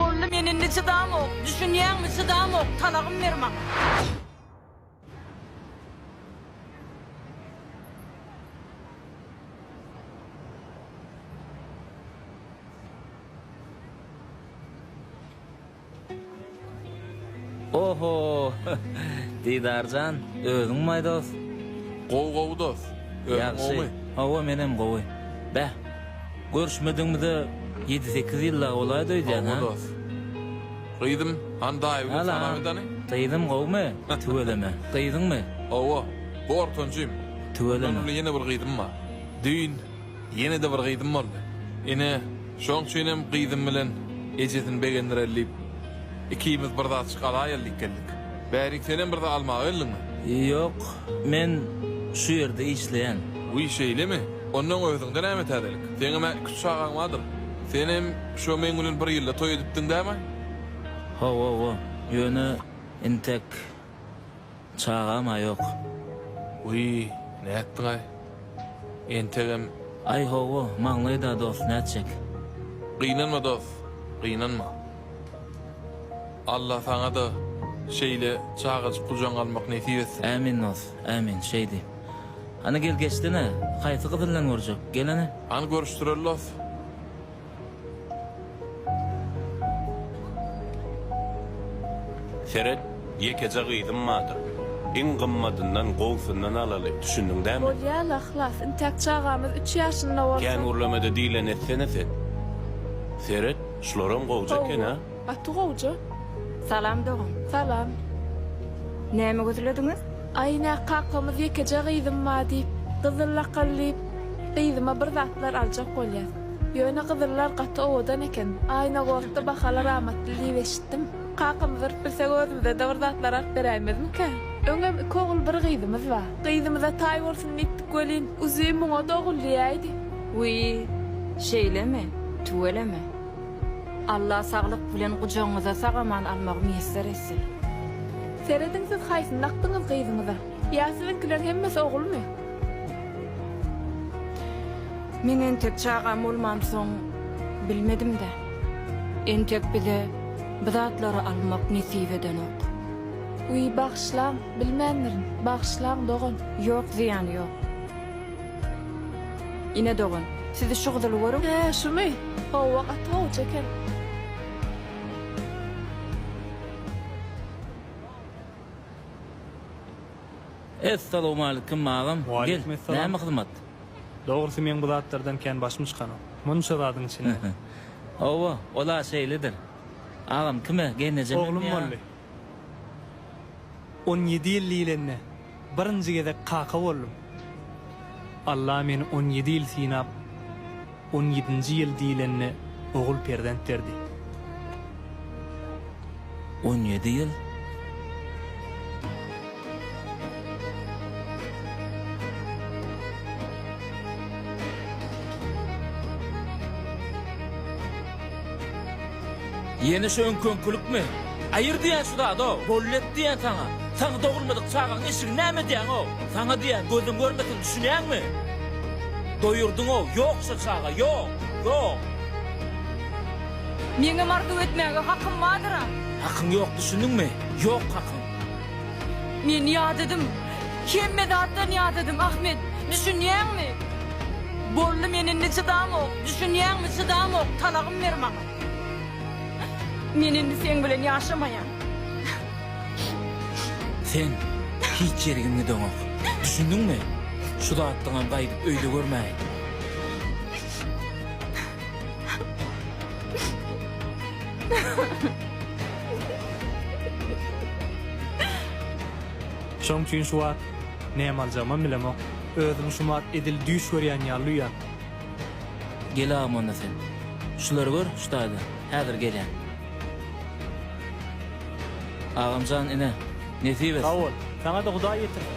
Boldy men indi çydamok. Düşünýäňmi çydamok talagym ber maňa. Oho! Didar jan, özüňmaý dos? Gowy gowy dos. Özüň gowumy? Hawa menem gowy. Beh, görüşmedigimize ýedi-sekiz ýyl dagy bolaýdy öýdýän, hä? Hawa dos. Gyzym, hany daýabigiň Sanabyydany? Gyzym gowumy? Tüweleme. Gyzyňmy? Hawa, gortanjym. Mundan uly ýene bir gyzym bar. Düýn. Ýene-de bir gyzym boldy. Ine, şoň üçinem gyzym bilen ejesini begendireli diýip, ikimiz bir zatjyk alaýaly diýip geldik. Bärik, senem bir zat almaga geldiňmi? Ýok, men şu ýerde işleýän. Wiý, şeýlemi? Onnoň özüňde näme täzelik? Seňem-ä iki-üç çagaň bardyr? Senem şo meň bilen bir ýylda toý edipdiň dämi? Hawa-wa, ýöne entek. Çagam-a ýok. Wiý, nätdiňaý? Entegem. Aý, hawa, maňlaýda dost, nätjek? Gynanma dost, gynanma. Alla saňa-da şeýle çagajyk gujagyňa almak nesip etsin. Ämin dost, ämin, şeýdi. Hany gel geçsene, haýsy gyz bilen görjek? Gel hany. Hany görüşdireli dost. Seret, ýekeje gyzym bardyr. Iň gymmadyndan, gowusyndan alaly, düşündiň dämi? Bolýar, yhlas. Intäk çagamyz üç ýaşynda bolsa. Kän gürlemede diýleni etsene sen. Seret, şularam gowja eken-a. Hawa, gaty gowja. Salam, dogan. Salam. Näme gözlediňiz? Aý, nä, kakamyz ýekeje gyzym bar diýip, gyzyl lakal diýip, gyzyma bir zatlar aljak bolýas. Ýöne gyzyllar gaty owadan eken. Aýnagortda bahalar amatly diýip eşitdim. Kakamyz urup bilsek özümize-de bir zatlar alyp beräýmezmikä? Öňem iki ogul bir gyzymyz bar. Gyzymyza taý bolsun diýipdik welin, uzi muňa-da ogul diýäýdi. Wiý, şeýlemi? Tüweleme. Alla saglyk bilen gujagyňyza sag-aman almagy miýesser etsin. Serediň siz haýsyny dakdyňyz gyzyňyza? Ýa siziňkiler hemmesi ogulmy? Men entek çagam bolmansoň bilmedim-dä. Entek bize bu zatlary almak nesip edenok. Wiý, bagyşlaň, bilmändirin. Bagyşlaň, dogan. Ýok, zyýany ýok. Ine, dogan, sizi şu gyzyly görüň. Hä, şumy? Hawa, gaty gowja eken. Essalowmalikim, agam. Gel, näme hyzmat? Dogrusy meň bu zatlardan kän başym çykanok. Munça zadyň içinden. Hawa, ol-a şeýledir. Agam kime, geýnejemem ýa? Oglum boldy. On ýedi ýyl diýlende, birinji gezek kaka boldum. Alla meni on ýedi ýyl synap, On ýedinji ýyl diýlende ogul perzent berdi. On ýedi ýyl. Ýene şu öňki-öňkülikmi? Aýyr diýen şu zad-ow! Bollet diýen saňa! Saňa dogulmadyk çagaň eşigini näme edýäň-ow? Saňa diýýän, gözüň görmesin, düşünýäňmi? Doýurdyň-ow! Ýok şo çaga, ýok! Ýok! Meňem arzuw etmäge hakym bardyr-a! Hakyň ýok, düşündiňmi? Ýok hakyň! Men ýadadym. Hemme zatdan ýadadym, Ahmet. Düşünýäňmi? Boldy, men indi çydamok. Düşünýäňmi, çydamok. Talagym ber maňa. Men indi seň bilen ýaşamaýan. Sen hiç ýerigiň gideňok. Düşündiňmi? Şu zatlaňam gaýdyp öýde görmäýin. Şoň üçin şu wagt näme aljagymam bilemok. Özümi şu wagt edil düýş görýän ýaly duýýan. Gel agam onda sen. Şulary gör şu taýda. Häzir gelýän. Agamjan ine, nesip etsin. Sag bol. Saňa-da Hudaý ýetirsin.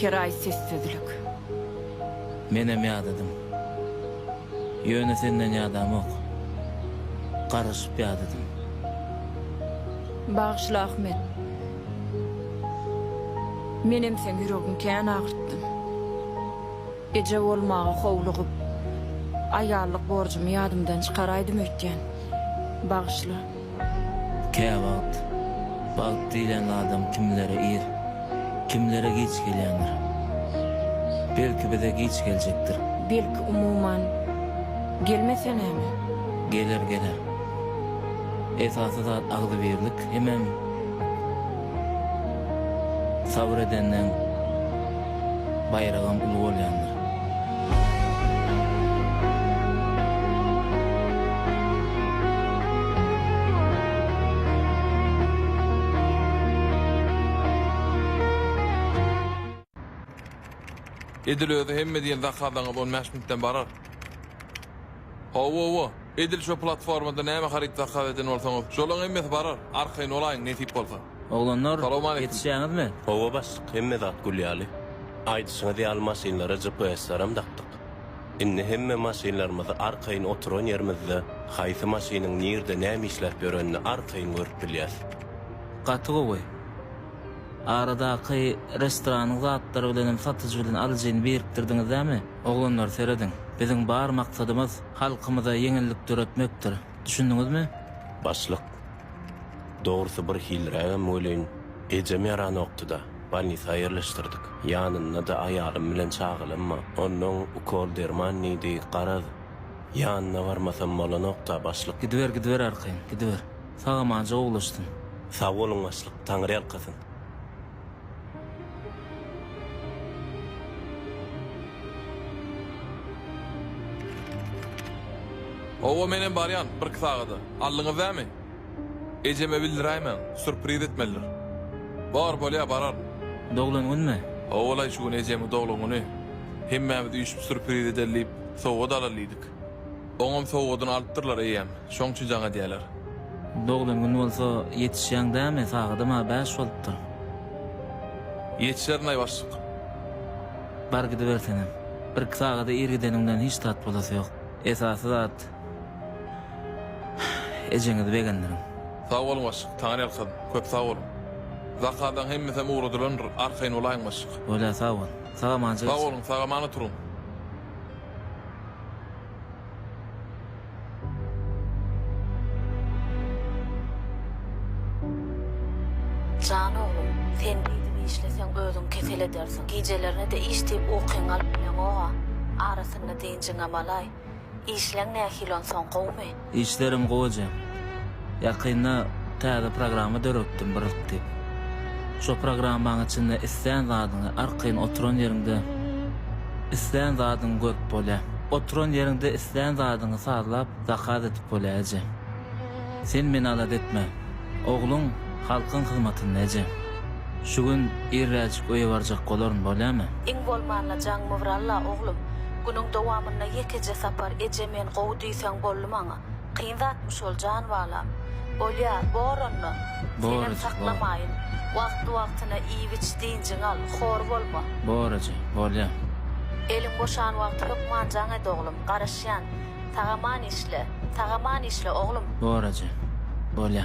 Her aý sessizlik. Menem ýadadym. Ýöne senden ýadamok. Garaşyp ýadadym. Bagyşla Ahmet. Menem seň ýüregiň kän agyrtdym. Eje bolmaga howlugyp, aýallyk borjumy ýadymdan çykaraýdym öýtýän. Bagyşla. Käwagt bagt diýlen zadam kimlere ir, kimlere giç gelýändir. Belki bize giç geljekdir. Belki umuman gelmese näme? Geler, geler. Esasy zat agzybirlik hemem. Sabyr edenden baýragam uly bolýandyr. Edil özi hemme diýen zakazaňyz on bäş minutdan barar. Hawa-wa. Edil şo platformada näme haryt zakaz eden bolsaňyz, şolaň hemmesi barar, arkaýyn bolaýyň nesip bolsa. Oglanlar, Salowmaleýkim. ýetişýäňizmi? Hawa başlyk hemme zat gül ýaly. Aýdyşyňyz ýaly maşynlara GPS-lerem dakdyk. Indi hemme maşynlarymyzy arkaýyn oturan ýerimizde haýsy maşynyň nirde näme işläp ýörenini arkaýyn görüp bilýäs. Gaty gowy. Aradaky restoranyň zatlary bilenem satyjy bilen alyjyny birikdirdiňizdämi? Oglanlar serediň, biziň bar maksadymyz halkymyza ýeňillik döretmekdir. Düşündiňizmi? Başlyk, Dogrusy bir hilrägem welin, ejem ýaranokdy-da, bolnisa ýerleşdirdik. Ýanynda-da aýalym bilen çagalamma. Onnoň ukol derman diýdi, garaz, ýanyna barmasam bolanok-da, başlyk. Gidiber, gidiber arkaýyn, gidiber. Sag-amanja gowulaşsyn. Sag boluň, başlyk. Taňryýalkasyn. Hawa, menem barýan, birki sagada. Aldyňyz näme? Ejeme bildiräýmäň, sürpriz etmelidir. Bar, bolýar, bararyn. Doglan günmi? Hawa-laý, şu gün ejemiň doglan güni. Hemmämiz üýşüp sürpriz edeli diýip, sowgat alaly diýdik. Oňam sowgadyny alypdyrlar eýýäm, şoň üçin jaň edýäler. Doglan gün bolsa ýetişýäň dämi, sagadam-a bäş bolupdyr. Ýetişerin-aý başlyk. Bar gidibersenem. Birki sagada ir gideniňden hiç zat bolasy ýok. Esasy zat, ejeňizi begendiriň. Sag boluň başlyk, taňryýalkasyn. Köp sag boluň. Zakazlaň hemmesem ugradylandyr, arkaýyn bolaýyň başlyk. Bolýa sag bol. Sag-amança geçiň. Sag boluň, sag-aman oturyň. Jan oglum, sen beýdip işleseň özüň kesel edersiň. Gijelerine-de iş diýip ukyňy alyp bileňog-a. Arasynda dynjyňam alaý. Işleň nähili onsoň, gowumy? Işlerim gowy ejem. Ýakynda täze programma döretdim Brrrk diýip. Şo programmaň içinde islän zadyňy arkaýyn oturan ýeriňde islän zadyňy görüp bolýar. Oturan ýeriňde islän zadyňy sazlap zakaz edip bolýar ejem. Sen meni alada etme. Ogluň halkyň hyzmatynda ejem. Şu gün irräjik öýe barjak bolaryn bolýamy? Iň bolmanda jaň mywralla oglum. Günüň dowamynda ýekeje sapar eje men gowy diýseň öýtseň boldy maňa. Kyn zatmy şol jan balam. Bolýa, bor onda. Senem saklamaýyn. Wagtly-wagtyna iýip-iç, dynjyňy al, hor bolma. Bor eje, bolýa. Eliň boşan wagty hökman jaň et oglum, garaşýan. Sag-aman işle. Sag-aman işle, oglum. Bor eje, bolýa.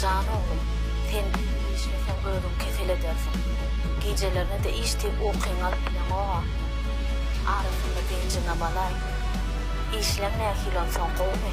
Jan oglum, sen biri işleseň özüň kesel edersiň. Gijelerine-de işdip ukyňy alyp bileňog-a. Arasynda benjigem alaý. Işleň nähili onsoň, gowumy?